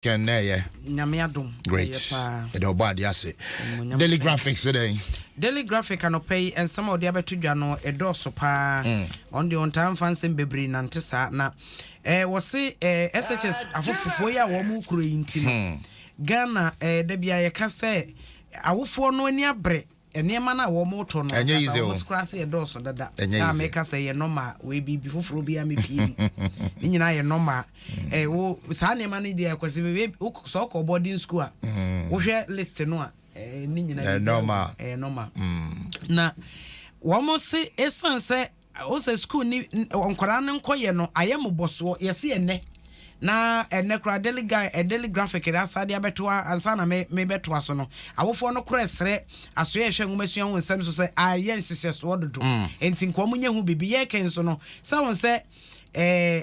Ken na ɛyɛ. Nyame adom. Great. Ɛyɛ paa. Ɛde ɔbɔ adeɛ ase. Daily graphics sɛ dɛn? Daily graphic anɔpa yi nsɛm a ɔde abɛto dwa no ɛdɔɔso paa. Mm. Ɔno deɛ ɔntaa mfa nsɛm bebree nante saa na eh, wɔse eh, SHS afofofoɔ yi a wɔn mu kuro yi nti no. Hmm. Ghana eh, da bia yɛka sɛ awofoɔ no ani abrɛ Nneɛma no a wɔretɔ no Ɛnyɛ ankasa easy o. wɔn koraa sɛ ɛdɔɔso dada. Ɛnyɛ A easy. meka sɛ ɛyɛ nɔma a wei biribi foforɔ biara mepie mu. Ne nyinaa yɛ nɔma a. Eh, wo saa nneɛma no deɛ kwasi bebe wo sɛ wokɔ boarding school a wohwɛ list no a eh, ne nyinaa Ɛyɛ biribiara nɔma. wɔ mu. Ɛyɛ nɔma. Na wɔn se esiane sɛ Wo sɛ sukuu ne nkwadaa no nkɔ yɛ no ayɛ mobɔsoɔ yɛse ɛnɛ na ɛnɛ kora daily guy eh, daily graphic no asade abɛto a ansa na me me bɛtoa so no awofoɔ no kora ɛsrɛ asoɛ ɛhwɛ nwoma sua ho nsɛm so sɛ ayɛ nhyehyɛ soɔ dodo mm. enti nkoa mu nyɛ ho biribi yɛ kɛn so no sɛ wɔn sɛ eh,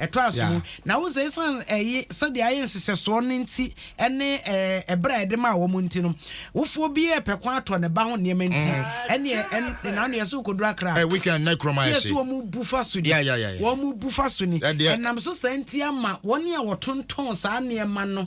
Ɛtoa so yi, na wohu sɛ esiane ɛye, sɛdeɛ ayɛ nhyehyɛsoɔ no nti ne ɛɛ berɛ a yɛde maa wɔn nti no, wofoɔ bi repɛ kwan atɔ ne ba ho nneɛma nti, mm. ɛneɛ ɛn, ɛna no yɛ so kɔduru akra. Ɛ eh, weekend na kurom ayɛ se. Sɛ wɔn bu fa so ni. Wɔn bu fa so ni. Ɛnam so saa nti ama wɔn a wɔtontɔn saa nneɛma no.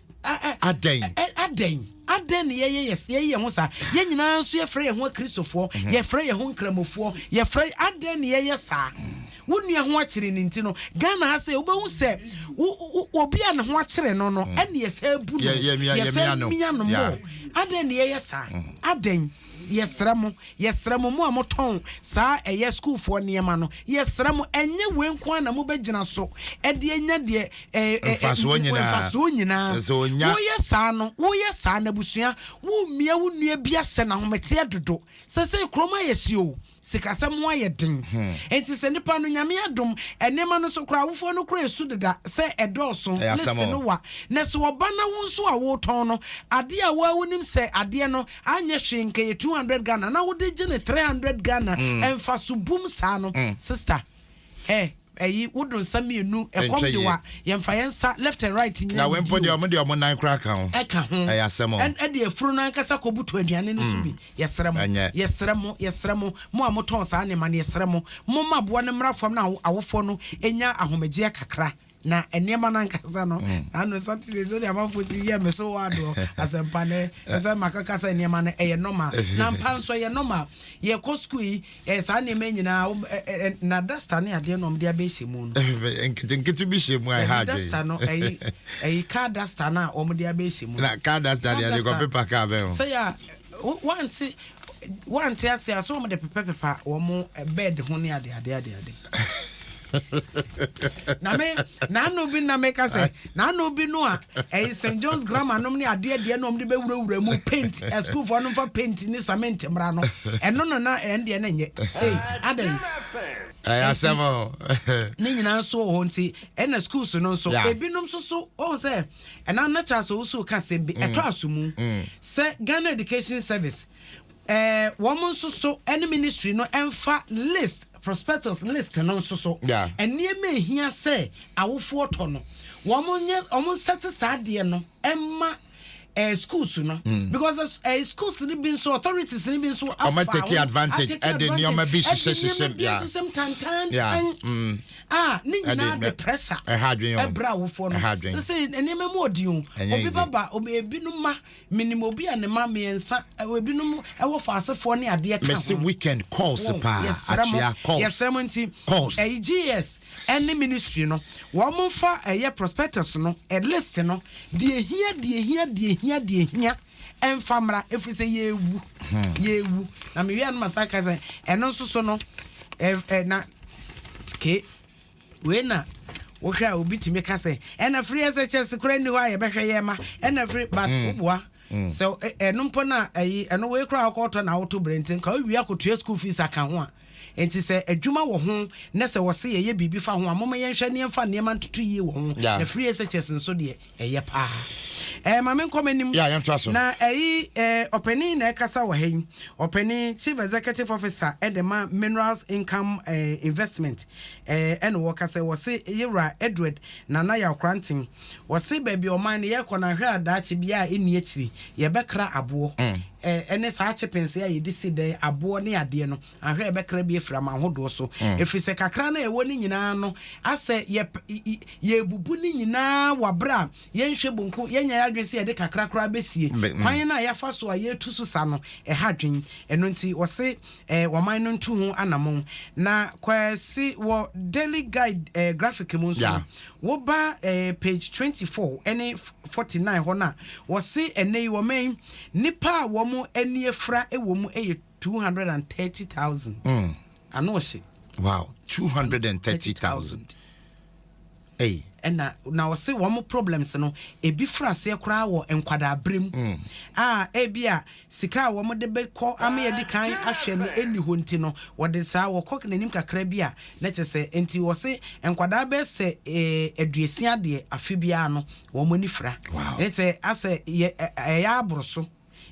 Adɛn? Adɛn? Adɛn na yɛyɛ yɛyɛ yɛn ho saa? Yɛn nyinaa nso yɛfrɛ yɛn ho Akristofoɔ, mhm. yɛfrɛ yɛn ho Nkramofoɔ, yɛfrɛ adɛn na yɛyɛ saa? wo nua ho akyere ne nti no ghana ha sɛ wobɛhu sɛ obi a ne ho akyere no no mm. ɛne yɛsɛ bu no yɛsɛ mia no mɔ adɛn ne yɛyɛ saa mm. adɛn Yɛsrɛ mo, yɛsrɛ mo, mo a motɔn saa ɛyɛ sukuufoɔ nneɛma no, yɛsrɛ mo, ɛnyɛ wei nko ara na mobɛgyina so de anya deɛ ɛ, ɛ, ɛ, Mfasoɔ nyinaa. mfasoɔ nyinaa. Ɛsɛ sɛ ɔnya. Woyɛ saa no, woyɛ saa no, abusua, woremmia wo nua bi ahyɛ no ahometeɛ dodo. Seesei kurom ayɛ hye o, Sikasɛm ho ayɛ den nti sɛ nipa no Nyame adom nneɛma no so koraa awofoɔ no koraa su deda sɛ ɛdɔɔso list no wa na sɛ ɔba na wo nso a wotɔn no adeɛ a woa wonim sɛ adeɛ no anyɛ hwee nka yɛ 200 Ghana na wode gye no 300 Ghana mfaso bum saa no sister Ɛ ɛyi wo do nsa mmienu ɛkɔm de wa yɛn fa yɛn nsa left and right nyina. Na wɛn po deɛ ɔmo deɛ ɔmo nan kora ka ho. Ɛka ho. Ɛyɛ asɛm o. Ɛn ɛde afuro no ankasa kɔ butu aduane no so bi. Yɛ srɛ mo. Ɛnyɛ. Yɛ srɛ mo. Yɛ srɛ mo. Mo a mo tɔn saa nneɛma no yɛ srɛ mo. Mo ma aboa no mmra fam na awo awofoɔ no nya ahomegyeɛ kakra. na nneɛma no ankasa no mm. na ano saturday sɛdeɛ amanfoɔ si yɛ me so wɔ adoɔ asɛmpa no ɛsɛ makaka sɛ nneɛma no ɛyɛ nɔma na mpa nso ɛyɛ nɔma yɛkɔ sukuu yi eh, saa nneɛma nyinaa eh, eh, na dasta ne adeɛ na ɔmde abɛhyɛ mu no nketenkete bi hyɛ mu a ɛha adwen dasta no ɛyi ɛyi car dasta no a ɔmde abɛhyɛ mu na car dasta deɛ ɛde kɔ pepa car bɛn ho sɛ yɛ a wante wante ase a so ɔmde pepapepa wɔn bed ho ne adeadeadeade na me n'ano bi na meka sɛ n'ano bi no a ɛyɛ eh, st john's grammar nom ne adeɛ deɛ na ɔmde bɛwurawura mu paint eh, sukuufoɔ no mfa paint ne cement mmara no ɛno no na ɛndeɛ no nyɛ adɛn ɛyɛ asɛm ne nyinaa nso wɔ hɔ nti ɛna schools no nso ebinom nso so ɔhu sɛ ɛna na kyɛ asɛ wo so ka sɛm bi ɛtɔ mm. aso mu mm. sɛ ghana education service Ɛɛ wɔn nso so ɛne ministry no ɛnfa list prospectus list no nso so nneɛma ehia sɛ awofoɔ tɔ no wɔn nyɛ wɔn nsɛte saa adeɛ no ɛma ɛɛ schools no mm. because ɛɛ schools no bi nso authorities no bi nso afa wɔn take advantage ɛde nneɛma bi hyehyɛ hyehyɛ bi ahyehyɛ tantantan mm. a ne nyinaa de pressure ɛbra awofoɔ no sɛ sɛ nneɛma mu ɔdi o obi baba obi ebinom ma. Menim obi a ne mma mmiɛnsa, ebinom wɔ fa asefoɔ ne adeɛ ka ho. Mese weekend calls paa, akyea calls. Yɛsrɛ mo nti, ɛyi GS ɛne ministry no, wɔn mo nfa ɛyɛ prospectus no, ɛ list no, deɛ hia, deɛ hia, deɛ hia, deɛ hia, ɛnfa mmra, efiri sɛ yɛɛwu, hmm. yɛɛwu. Na mewie a no ma saa ka sɛ, ɛno nso so no, ɛ, ɛ, na, ke. Wei na wohwɛ a obi tumi ka sɛ ɛna firi ɛsɛ kyɛse kora nni hɔ a yɛbɛhwɛ yɛ ma ɛna firi but mm. woboa mm. sɛ ɛno mpo no a ɛyi ɛno wei kora wokɔtɔ na woto berɛ nti nka wowie akɔtua school fees aka ho a nti sɛ adwuma wɔ ho na sɛ wɔse yɛyɛ biribi fa ho a moma yɛnhwɛ ne yɛmfa nneɛma ntoto yie wɔ ho na firi ɛsɛ kyɛse nso deɛ ɛyɛ paa ɛɛ maame nkɔ m'anim yeah, yɛn to aso na ɛyi ɛɛ ɔpanin na ɛkasa wɔ ha yi ɔpanin chief executive officer ɛde ma minerals income ɛɛ investment ɛɛ ɛna wɔkasa wɔsi yewura edward nana yakoranten wɔsi baabi ɔman no yɛkɔ na ahwɛ adaakye bia a ɛni akyiri yɛbɛkra aboɔ ɛɛ mm. ɛne saa chippings a yɛde si dɛ aboɔ ne adeɛ no Ahwɛ, yɛbɛkra bi afiri amanhodoɔ so, ɛfiri sɛ kakra no a yɛwɔ no nyina ara no, asɛ yɛrebubu no nyina ara wɔ aberɛ a yɛnhwɛ bonku, yɛnyɛ yɛn adwene sɛ yɛde kakra koraa bɛsie. Kwan no a yɛafa so a yɛretu so sa no, ɛha adwene. Ɛno nti wɔse wɔman no ntu ho anamɔn. Na Kwasi, wɔ Daily Guide graphic mu nso no, woba page 24 ne 49 hɔ no a, wɔse ɛnnɛ yi wɔman yi, nnipa a wɔn ani afira wɔ mu yɛ. Two hundred and thirty thousand. Mm. Ano ɔhyɛ. Wow, two hundred and thirty thousand. Hey. ɛna na ɔse wɔn mo problems no ebi firi aseɛ koraa wɔ nkwadaa berem mm. a ebi a sika a wɔn de bɛkɔ ama yɛde kan ahwɛ no ɛni hɔ nti no wɔde saa wɔkɔ n'anim kakra bi a na kyɛ sɛ nti wɔse nkwadaa bɛɛ sɛ eh, aduasia deɛ afe biara no wɔn ani fira ɛne sɛ asɛ ɛyɛ aboro so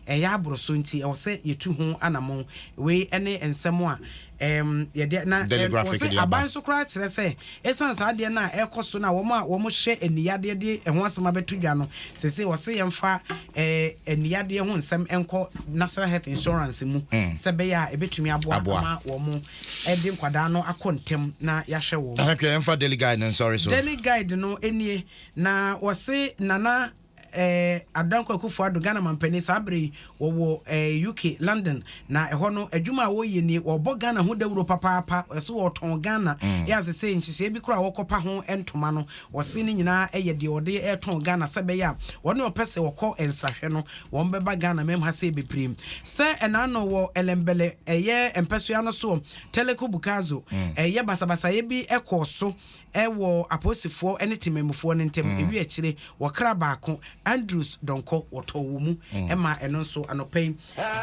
ɛyɛ aboro so nti ɛwɔ sɛ yɛtu ho anamɔn. Wei ne nsɛm a ɛɛm yɛde na Daily ɛn wɔ Graphic se de aba. aban nso koraa kyerɛ sɛ ɛsiane saa adeɛ no a ɛrekɔ so no a wɔn a wɔhwɛ aniyadeɛ de ɛho asɛm abɛto dwa no, seesei wɔse yɛmfa ɛɛ aniyadeɛ ho nsɛm nkɔ National Health Insurance mu sɛ ɛbɛyɛ a ɛbɛtumi aboa Aboa. ama wɔn de nkwadaa no akɔ ntɛm na yɛahwɛ wɔn. Ahwɛ yɛmfa Daily Guide no nsɔre so. Daily Guide no nie, na wɔse Nana. Eh, Ad Dankwa Akufo Addo, Ghana Mampanin, saa bere yi wɔwɔ eh, UK, London, na ɛhɔ no adwuma a wɔyɛ nie, wɔbɔ Ghana ho dawuro papaapa, ɛso wɔtɔn Ghana, mm. yɛ ase sɛ nhyehyɛe bi koraa wɔkɔpa ho ntoma no, wɔse ne nyinaa ɛyɛ deɛ wɔde ɛtɔn Ghana sɛ bɛyɛ a wɔne ɔpɛ sɛ wɔkɔ nsrahwɛ no, wɔn bɛba Ghana mɛm ha sɛ bebree. Sɛ ɛnaano wɔ ɛlɛmbɛlɛ ɛyɛ mpɛsoa no soɔ, Teleko Bukazo, mm. ɛyɛ basabasayɛ bi ɛkɔɔ so wɔ apolisifoɔ ne temanmufoɔ no ntam awie akyire wɔkra baako Andrews Donkor wɔtɔɔ wɔ mu maa ɛno nso anɔpa yi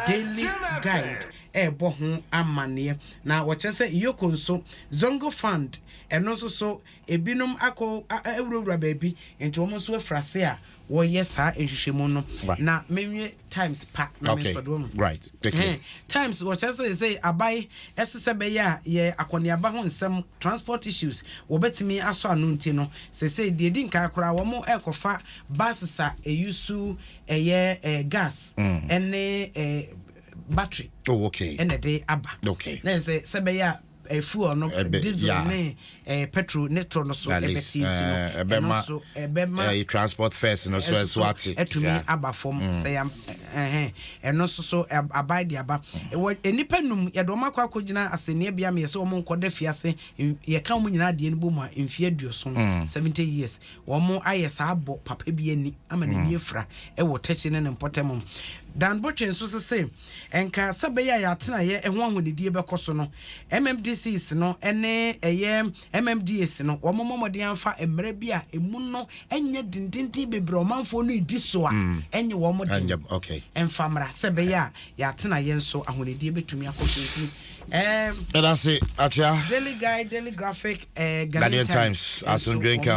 Daily Guide rebɔ ho amanneɛ na wɔkyerɛ sɛ Iyoko nso Zongo Fund ɛno nso so ebinom akɔ awurawura baabi nti wɔn nso afiri ase a wɔyɛ saa nhwehwɛmu no na menwie times pa na me sɔde wɔn right okay times wɔkyɛ sɛ sɛ abae ɛsɛ sɛ bɛyɛ a yɛ akɔneaba ho nsɛm transport issues wɔbɛtumi asɔ ano nti no sɛ sɛ deɛ di nkan koraa wɔn ɛkɔfa buses a ɛyusu ɛyɛ ɛɛ gas ɛne ɛɛ battery oh okay ɛna ɛde aba okay na sɛ sɛ bɛyɛ a fuel no Ɛbɛ- diesel yeah. ne eh, petrol ne tɔ no so That is, ɛbɛte nti no eh, ɛno ɛbɛma- so ɛbɛma eh, transport first no so ɛso ɛso so ate atumi Yeah. Mm. aba fam sɛ yam ɛhɛn ɛno nso so ab- aban de aba Mm. wɔ nnipa num yɛde wɔn akɔ akɔgyina asɛnniɛ bea ma yɛsɛ wɔn nkɔda fiase N- yɛka wɔn nyinaa adeɛ no bɔ mu a mfeɛ aduoson Mm. seventy years Wɔayɛ saa abɔ papa bi ani ama n'ani afira wɔ tɛkyi ne ne mpɔtam. Dan Botwe nso se se nka sɛ ɛbɛyɛ a yɛ atenaeɛ ho ahonidie bɛkɔ so no, MMDCs no ne ɛyɛ MMDAs no wɔmmɔ mmɔden amfa mmara bi a ɛmu no nyɛ dendenden bebree a ɔmanfoɔ no redi so a ɛnyɛ wɔn den mfa mmra sɛ ɛbɛyɛ a yɛ atenaeɛ nso ahonidie bɛtumi akɔ so nti ɛɛ. Ɛda se akyea. Daily Guide, Daily Graphic, eh, Ghanaian Times, Times asomdwe nka ho.